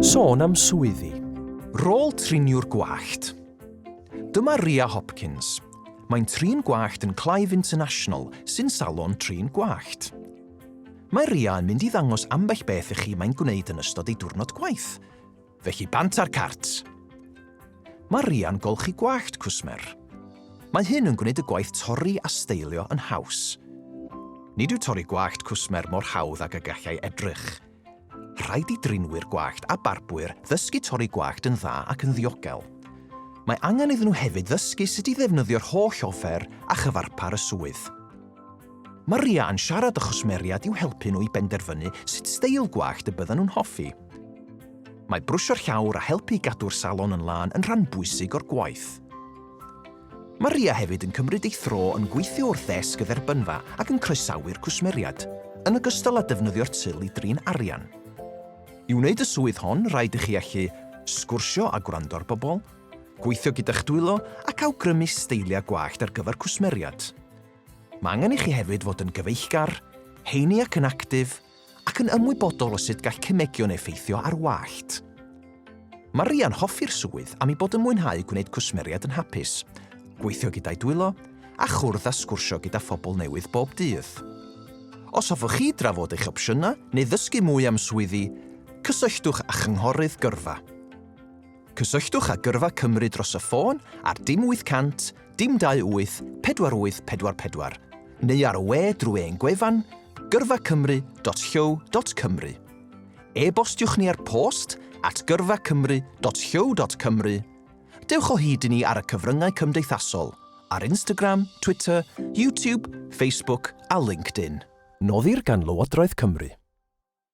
Sôn am swyddi. Rôl triniwr gwallt. Dyma Ria Hopkins. Mae'n trin gwallt yn Clive International, sy'n salon trin gwallt. Mae Ria yn mynd i ddangos ambell beth i chi mae'n gwneud yn ystod ei diwrnod gwaith. Felly bant ar cart! Mae Ria'n golchi gwallt cwsmer. Mae hyn yn gwneud y gwaith torri a steilio yn haws. Nid yw torri gwallt cwsmer mor hawdd ag y gallai edrych. Rhaid i drinwyr gwallt a barbwyr ddysgu torri gwallt yn dda ac yn ddiogel. Mae angen iddyn nhw hefyd ddysgu sut i ddefnyddio'r holl offer a chyfarpar y swydd. Mae Ria yn siarad â chwsmeriaid i'w helpu nhw i benderfynu sut steil gwallt y byddan nhw'n hoffi. Mae brwsio'r llawr a helpu i gadw'r salon yn lân yn rhan bwysig o'r gwaith. Mae Ria hefyd yn cymryd ei thro yn gweithio wrth ddesg y dderbynfa ac yn croesawu'r cwsmeriad, yn ogystal â defnyddio'r til i drin arian. I wneud y swydd hon, rhaid i chi allu sgwrsio a gwrando ar bobl, gweithio gyda'ch dwylo ac awgrymu steiliau gwallt ar gyfer cwsmeriad. Mae angen i chi hefyd fod yn gyfeillgar, heini ac yn actif, ac yn ymwybodol o sut gall cemegion effeithio ar wallt. Mae Rhia'n hoffi'r swydd am ei bod yn mwynhau gwneud cwsmeriaid yn hapus, gweithio gyda'i dwylo, a chwrdd a sgwrsio gyda phobl newydd bob dydd. Os hoffwch chi drafod eich opsiynau neu ddysgu mwy am swyddi, cysylltwch â Chynghorydd Gyrfa. Cysylltwch â Gyrfa Cymru dros y ffôn ar dim 800 dim 28 4844 neu ar y we drwy ein gwefan gyrfacymru.llyw.cymru. E-bostiwch ni ar post at gyrfacymru.llyw.cymru. Dewch o hyd i ni ar y cyfryngau cymdeithasol, ar Instagram, Twitter, YouTube, Facebook a LinkedIn. Noddir gan Lywodraeth Cymru.